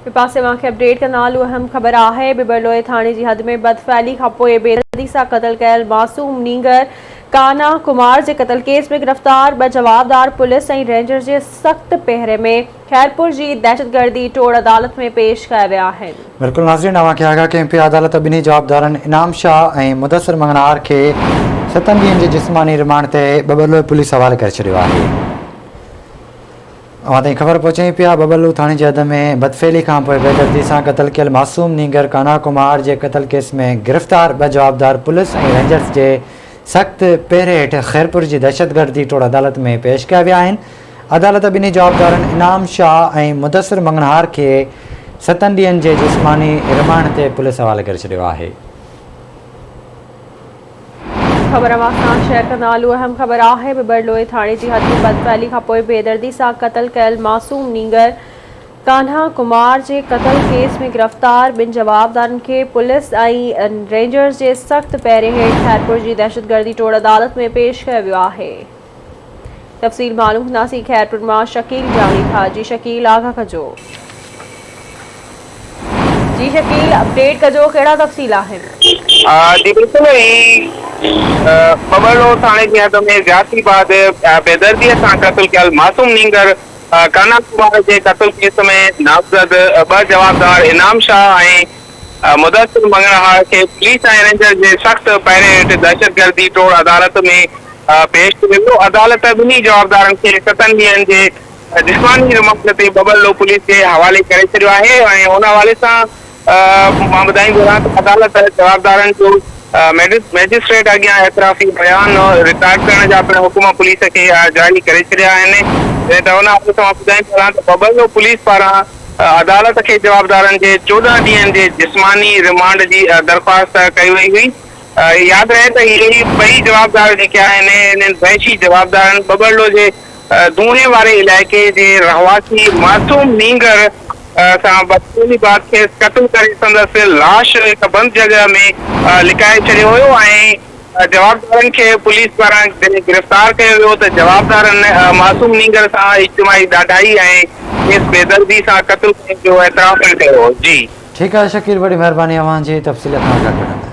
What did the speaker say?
ٻئي پاسي اوهان کي اپڊيٽ ڪنداهلون اهم خبر آهي ٻٻرلوئي ٿاڻي جي حد ۾ بد فعلي کانپوء بيدردي سان قتل ڪيل معصوم نينگر ڪانا ڪمار جي قتل ڪيس ۾ گرفتار ٻه جوابدار پوليس ۽ رينجر جي سخت پهري ۾ خيرپور جي دهشتگردي ٽوڙ عدالت ۾ پيش ڪيا ويا آهن. بلڪل ناظرين اوهان کي آگاهه ڪيون پيا عدالت ٻنهي جوابدارن انعام شاهه ۽ مدثر مڱڻهار کي ستن ڏينهن جي جسماني رمانڊ تي ٻٻرلوئي پوليس حوالي ڪري ڇڏيو آهي. اوهان تائين خبر پهچائين پيا، ببلو ٿاڻي جي حد ۾ بدفعلي کانپوء بيدردي سان قتل ڪيل معصوم نينگر ڪانا ڪمار جي قتل ڪيس ۾ گرفتار ٻه جوابدار پوليس ۽ رينجرز جي سخت پهري هيٺ خيرپور جي دهشتگردي ٽوڙ عدالت ۾ پيش ڪيا ويا آهن، عدالت ٻنهي جوابدارن انعام شاهه ۽ مدثر مڱڻهار کي ستن ڏينهن جي جسماني رمانڊ تي پوليس حوالي ڪري ڇڏيو آهي. خبر امان خان شيخ جو نالو اهم خبر آهي، ٻٻرلوئي ٿاڻي جي هٿين بد فعلي کانپوء بيدردي سان قتل ڪيل معصوم نينگر ڪانها ڪمار جي قتل ڪيس ۾ گرفتار ٻن جوابدارن کي پوليس ۽ رينجرز جي سخت پهري هيٺ خيرپور جي دهشتگردي ٽوڙ عدالت ۾ پيش ڪيو ويو آهي. تفصيل معلوم ڪنداسين خيرپور مان شڪيل جاڻي ٿا جي شڪيل آگاهه ڪجو جي شڪيل اپڊيٽ ڪجو ڪهڙا تفصيل آهن جي بلڪل پٻرڙو ٿاڻي جي حد ۾ زيادتي بعد بيدردي سان قتل ڪيل معصوم نينگر ڪانا ڪمار جي قتل ڪيس ۾ نامزد ٻه جوابدار انعام شاهه ۽ مدثر مڱڻهار کي پوليس ۽ رينجرز جي سخت پهري هيٺ دهشتگردي ٽوڙ عدالت ۾ پيش ڪيو ويو، عدالت ٻنهي جوابدارن کي ستن ڏينهن جي جسماني رمانڊ تي ببلو پوليس جي حوالي ڪري ڇڏيو آهي ۽ ان حوالي سان مان ٻڌائي گهران ته عدالت جوابدارن جو مئجسٽريٽ اڳيان اعترافي بيان رڪارڊ ڪرڻ جا پڻ حڪم پوليس کي جاري ڪري ڇڏيا آهن جڏهن ته ان حوالي سان مان ٻڌائي گهران ته ببلو پوليس پاران عدالت کي جوابدارن جي چوڏهن ڏينهن جي جسماني ريمانڊ جي درخواست ڪئي وئي هئي. ياد رهي ته اهي ئي ٻئي جوابدار جيڪي آهن انهن وحشي جوابدارن ٻٻرڙو جي دونهين واري علائقي جي رهواسي معصوم نينگر سان بدفعلي بعد کيس قتل ڪري سندس لاش هڪ بند جڳهه ۾ لڪائي ڇڏيو هيو ۽ جوابدارن کي پوليس پاران جڏهن گرفتار ڪيو ويو ته جوابدارن معصوم نينگر سان اجتماعي ڏاڍائي ۽ کيس بيدردي سان قتل ڪرڻ جو اعتراف پڻ ڪيو هو. جي. ٺيڪ آهي شڪيل ڀٽي مهرباني اوهان جي تفصيل کان آگاهه ڪرڻ لاء.